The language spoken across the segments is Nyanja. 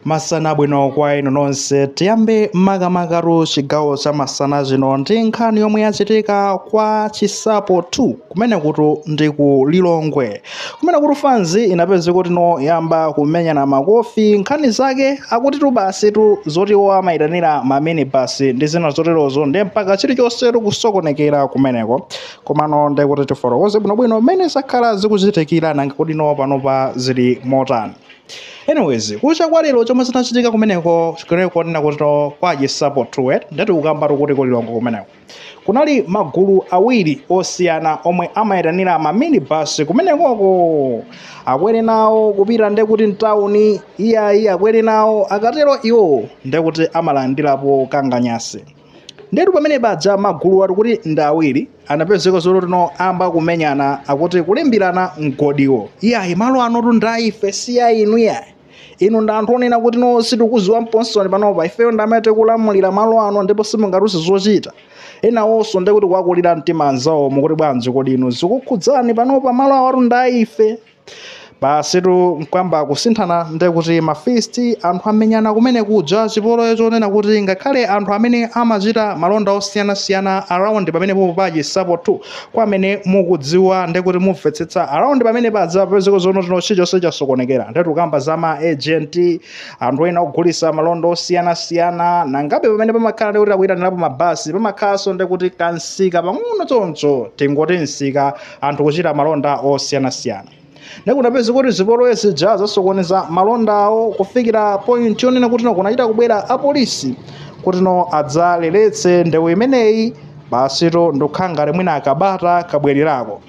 Masana abwino kwa inu nonse. Tiyambe makamakatu chigawo cha masana chino ndi nkhani yomwe yachitika kwa Chisapo 2 kumenekutu ndi ku Lilongwe. Kumenekutu fanzi inapezeka kuti no yayamba kumenyana makofi nkhani zake akutitu basitu zoti iwo amayitanira ma minibus ndi zina zoterozo ndi mpaka chilichonsetu kusokonekera kumeneko. Komano ndi kuti tifotokoze bwinobwino mmene zakhala zikuchitikira nanga kuti no panopa zili motani. anyways kucha kwa lero chomwe chinachitika kumeneko kunena kuti kwa chisapo 2 eti ndetu tikukambatu kuti ku lilongwe kumeneko kunali magulu awiri osiyana omwe amayitanira maminibus kumenekoko akwere nawo kupita ndekuti mtawuni iyayi akwere nawo akatero iwo ndekuti amalandirapo kanganyasi ndetu pamene paja magulu awatu kuti ndi awiri anapezeka zonena kuti no ayamba kumenyana akuti kulimbirana mgodiwo iyayi malo anotu ndi aife si a inu iyayi inu ndi anthu onena kuti no sitikuziwani nkomwe panopa ifeyo ndi amene tikulamulira malo ano ndipo simungatiuze zochita enawonso ndekuti kuwakulira mtima anzawo mukuti bwanji kodi inu zikukhudzani panopa malo awatu ndi aife basitu nkuyamba kusinthana nde kuti mafisti anthu amenyana kumenekuja chipolowe chonena kuti ngakhale anthu amene amachita malonda osiyanasiyana around pamenepopo pa chisapotu kwa amene mukudziwa nde kuti mumvetsetsa around pamenepaja kupezeka zonena kuti no chilichonse chasokonekera ndetu tikukamba za ma agent anthu ena ogulisa malonda osiyanasiyana nangabe pamene pamakhala nde kuti akuyitanirapo mabasi pamakhalanso nde kuti kamsika pang'ono choncho tingoti msika anthu kuchita malonda osiyanasiyana nde kunapezeka kuti zipolowe zija zasokoneza malonda awo kufikira point yonena kuti no kunachita kubwera apolisi kuti no adzaleletse ndewu imeneyi basitu ndikukhala ngati mwina kabata kabwererako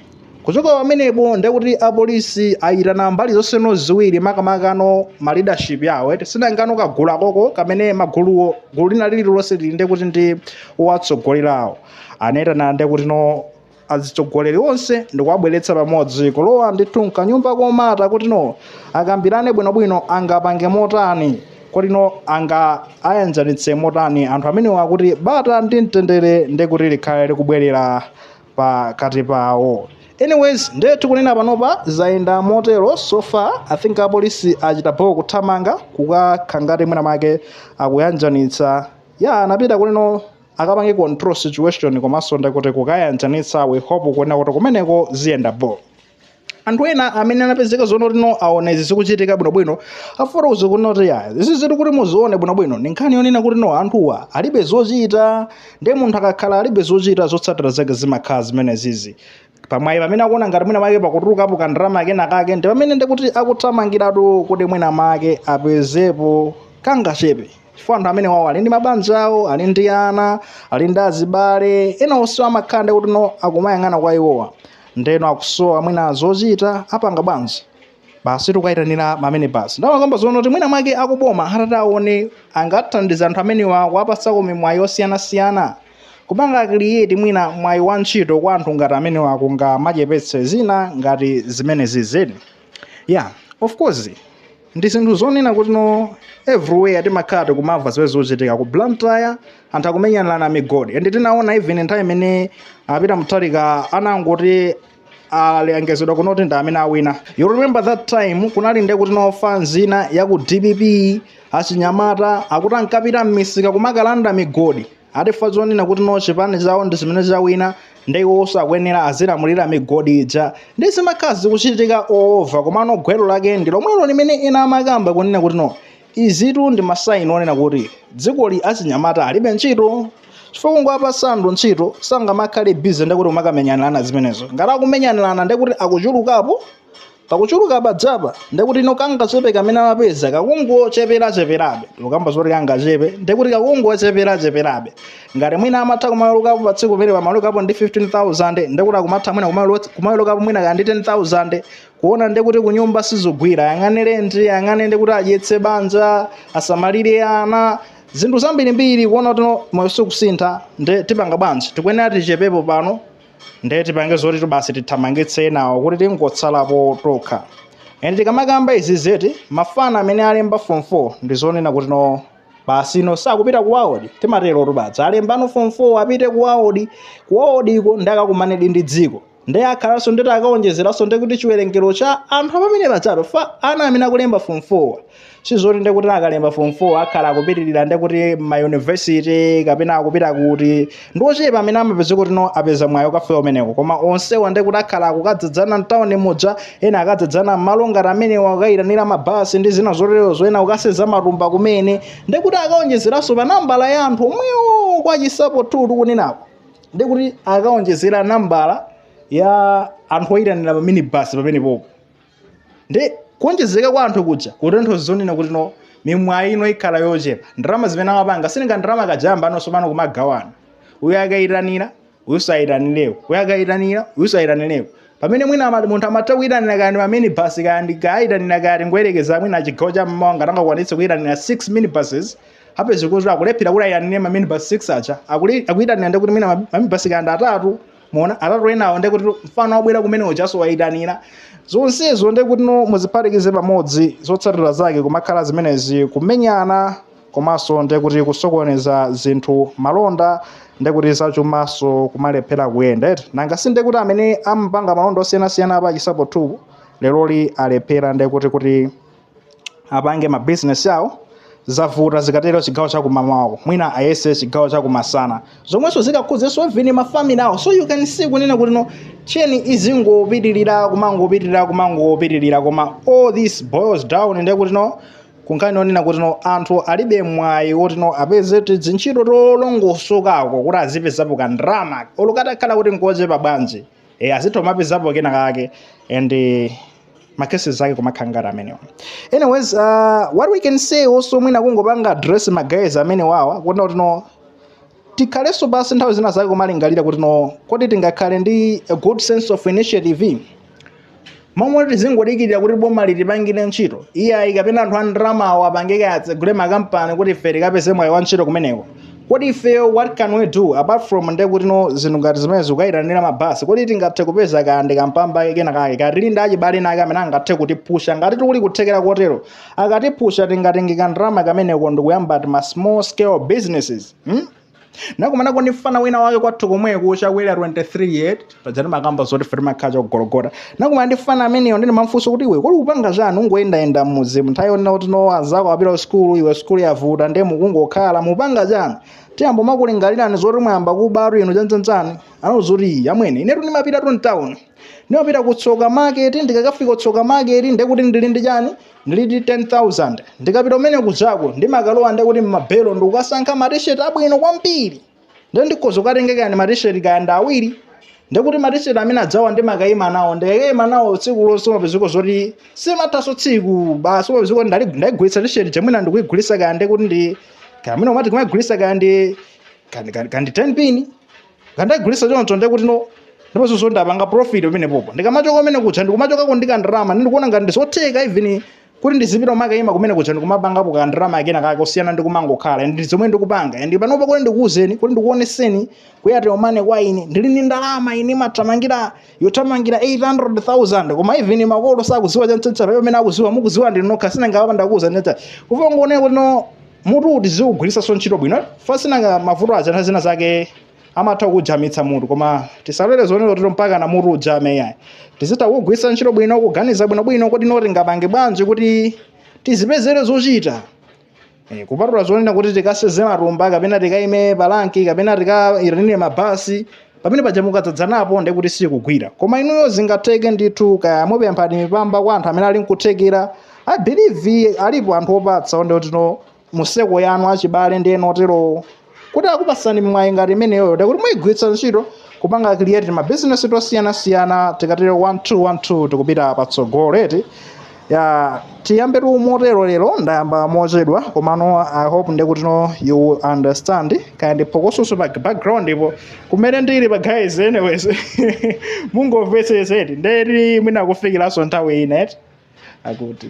kuchoka pamenepo ndekuti apolisi ayitana mbali zonseno ziwiri makamakano ma leadership yawo eti si nanga no kagulu kakoko kamene maguluwo gulu lina lililonse lili ndekuti ndi owatsogolerawo anayitana ndekuti no azitsogoleri onse ndikuwabweretsa pamodzi kulowa ndithu mkanyumba komata kuti no akambirane bwinobwino angapange motani kuti no angayanjanitse motani anthu amenewa kuti bata ndi mtendere ndi kuti likhale likubwerera pakati pawo anyways nde tikunena panopa zayenda motero so far i think apolisi achita bho kuthamanga kukakhala ngati mwina make akuyanjanitsa ya anapita kuti no akapange control situation komanso ndikuti kukayanjanitsa we hope kunena kuti kumeneko ziyenda bho anthu ena amene anapezeka zonena kuti no aona izi zikuchitika bwinobwino afuna azikunena kuti iyayi izizizitu kuti muzione bwinobwino ndi nkhani yonena kuti no anthuwa alibe zochita ndi munthu akakhala alibe zochita zotsatira zake zimakhala zimenezizi pamwayi pamene akuona ngati mwina make pakutulukapo ka ndalama kena kake ndi pamene ndikuti akuthamangiratu kuti mwina make apezepo kangachepe chifukwa anthu amenewawo ali ndi mabanja awo ali ndi ana ali ndi azibale ena onse amakhala nde kuti no akumayang'ana kwa iwowa ndeno akusowa mwina zochita apanga bwanji basi tikayitanira ma minibasi ndimakamba zoona kuti mwina mwake akuboma atati awone angathandiza anthu amenewa kuwapasako mimwayi osiyanasiyana kupanga create mwina mwayi wa ntchito kwa anthu ngati amenewa kungamachepetse zina ngati zimenezizi yeah of course ndi zinthu zonena kuti no everywhere timakhala tikumamva zimene zikuchitika ku blantyre anthu akumenyanirana migodi and tinaona even nthawi imene a Peter Mutharika anangoti alengezedwa kuno kuti ndi amene awina you remember that time kunali nde kuti mafana ena ya ku dpp achinyamata akuti ankapita m'misika kumakalanda migodi ati chifukwa chonena kuti no chipani chawo ndi chimene chawina nde iwonso akuyenera azilamulira migodi ija nde zimakhala zikuchitika all over komano gwero lake ndi lomwelo limene ena amakamba kunena kuti no Izitu ndi ma sign onena kuti dzikoli achinyamata alibe ntchito. Chifukwa mukawapatsa anthu ntchito sangamakhale busy ndekuti kumakamenyanirana zimenezo. Ngati akumenyanirana ndekuti akuchulukapo, pakuchuluka paja pa ndekuti ino kangachepe kamene amapeza kakungocheperacheperabe. Ndikukamba zoti kangachepe ndekuti kakungocheperacheperabe. Ngati mwina amatha kumawerukapo pa tsiku pamene pamawerukapo ndi 15,000 ndekuti akumatha mwina kumaweru- kumawerukapo mwina kaya ndi 10,000 kuona nde kuti kunyumba sizikugwira ayang'ane lendi ayang'ane nde kuti adyetse banja asamalire ana zinthu zambirimbiri kuona kuti no, moyo sikusintha nde tipanga bwanji tikuyenera tichepepo pano nde tipange zoti basi tithamangitse enawo kuti tingotsalapo tokha and tikamakamba izizi eti mafana amene alemba form 4 ndi zonena kuti no basi no akupita ku waodi timatero tikamadza alemba no form 4 apite ku waodi ku waodiko nde akakumanedi ndi dziko nde akhalanso nde kuti akaonjezeranso nde kuti chiwerengero cha anthu amene pajapo chifukwa ana amene akulemba form 4 sizoti nde kuti akalemba form 4 akhala akupitirira nde kuti ma university kapena akupita kuti ndi ochepa amene amapeza kuti no apeza mwayi ukafika umeneko koma onsewa nde kuti akhala akukadzadzana mtawuni muja ena akadzadzana m'malo ngati amenewa akayitanira mabasi ndi zina zoterezo ena kukasenza matumba kumene nde kuti akaonjezeranso pa nambala ya anthu omwewo kwachitsanzo tikunenako ndi kuti akaonjezera nambala ya anthu oyitanira pa minibus pamenepopo ndi kuonjezeka kwa anthu kuja kutanthauza zonena kuti no mimwayi ino ikhala yochepa ndalama zimene amapanga si nanga ndalama kaja mba anonso pano kumagawana uyu akayitanira uyu sayitanireko uyu akayitanira uyu sayitanireko pamene mwina ama- munthu amatha kuyitanira kaya ndi ma minibus kaya ndi kayitanira kaya tingoyerekeza mwina chigawo cha mmawa ngati angakwanitse kuyitanira 6 minibuses apeze kuti akulephera kuti ayitanire ma minibus 6 aja akuli- akuyitanira ndekuti mwina ma- ma minibus kaya ndi atatu muona atatu enawo ndekuti mfana wabwera kumene ujaso wayitanira zonsezo ndekuti no muziphatikize pamodzi zotsatira zake kumakhala zimenezi kumenyana komanso ndekuti kusokoneza zinthu malonda ndekuti zachumaso kumalephera kuyenda eti nanga si ndekuti amene amapanga malonda osiyanasiyana a pa chinsapo 2 leroli alephera ndekuti kuti apange ma business awo zavuta zikatero chigawo cha kumamawa mwina ayese chigawo cha kumasana zomwenso zikakhuzenso even ma family awo so you can see kunena kuti no tcheni izingopitirira kumangopitirira kumangopitirira koma all this boils down ndiye kuti no kunkhani onena kuti no anthu alibe mwayi woti no apeze tizintchito tolongosokako kuti azipezapo ka ndalama olo katakhala kuti nkochepa bwanji e, azitha kumapezapo kena kake and eh, ma cases ake kumakhala ngati amenewa anyways uh, what we can say also mwina kungopanga address ma guys amenewawa kuona kuti no tikhalenso pansi nthawi zina zake kumalingalira kuti no kodi tingakhale ndi a good sense of initiative momwe tizingodikirira kuti boma litipangire ntchito iyayi kapena anthu a ndalamawo apange atsegule makampani kuti ife tikapeze mwayi wa ntchito kumeneko kodi ifeyo what can we do apart from nde kuti no zinthu ngati zimenezi kukayitanira mabasi kodi tingathe kupeza kaya ndi kampamba kena kake kaya tili ndi achibale enaake amene angathe kutipusha ngati kuli kuthekera kotero akatipusha tingatenge kandalama kameneko ndikuyamba ti ma small scale businesses hmm? nakumanako ndi mfana wina wake kwathu komweko cha ku area 23 yeah paja ndimakamba zoti ife timakhala cha ku gologota nakumana ndi mfana ameneyo nde ndimamfunsa kuti iwe kodi ukupanga chani ungoyendayenda mmudzimu nthawi yonena kuti no anzako apita ku sikulu iwe sikulu yavuta ndiye mukungokhala mupanga chani tiyamba kumakulingalirani zoti mwayamba kubatu inu chani chani anandiuza kuti iyayi amwene inetu ndimapitatu mtawuni ndimapita ku tsoka market ndikakafika kutsoka market ndekuti ndili ndi chani ndili ndi 10000 ndikapita kumene kujako ndimakalowa ndekuti mmabelo ndikukasankha matisheti abwino kwambiri ndiye ndikhoza kukatenga kaya ndi matisheti kaya ndi awiri ndikuti matisheti amene ajawa ndimakayima nawo ndikayima nawo tsiku lonse umapezeka zoti simathaso tsiku basi umapezeka kuti ndali- ndaigulitsa tisheti ija mwina ndikuigulitsa kaya ndikuti ndi kamene umati kumaigulitsa kaya ndi kandi- kandi kandi 10 pini ndikaigulitsa choncho ndikuti no ndiponso zoti ndapanga profit pamenepopo ndikamachoka kumene kuja ndikumachokako ndi kandalama ndikuona ngati ndizotheka even kuti ndizipita kumakayima kumene kuja ndikumapangapo ka ndalama kena kake osiyana ndi kumangokhala ndi zomwe ndikupanga ndi panopa kuti ndikuwuzeni kuti ndikuoneseni kuyatira umane kwa ine ndili ndi ndalama imene imathamangira yothamangira 800000 koma even makolo sakuziwa chantsitsa pamene amene akuziwa mukuziwa ndinu nokha si nanga apa ndakuwuza nditsa kuva ngooneka kuti no mutuwu tiziwugwiritsanso ntchito bwino fasinanga mavuto aja nthawi zina zake amatha kujamitsa mutu koma tisalole zonena kuti mpaka na mutu ujame yayi tizitha kugwiritsa ntchito bwino kuganiza bwinobwino kuti no tingapange bwanji kuti tizipezere zochita Eh, kupatula zonena kuti tikaseze matumba kapena tikaime palanki kapena tikayitanire mabasi pamene paja mukadzadzanapo ndiye kuti sikugwira koma inuyo zingatheke ndithu kaya mupemphani mipamba kwa anthu amene ali nkuthekera i believe alipo anthu opatsa oti kuti no mu circle yanu achibale ndi ena oterowo kuti akupasani mwayi ngati imeneyoyo ndekuti muyigwiritsa ntchito kupanga create ma business osiyanasiyana tikatero 1212 tikupita patsogolo eti ya tiyambetu motero lero ndayamba mochedwa komano i hope ndekuti no you will understand kaya ndi phokososo pa background-po kumene ndili pa guys anyways mungomvetsetsa eti ndekuti mwina kufikiranso nthawi ina eti akuti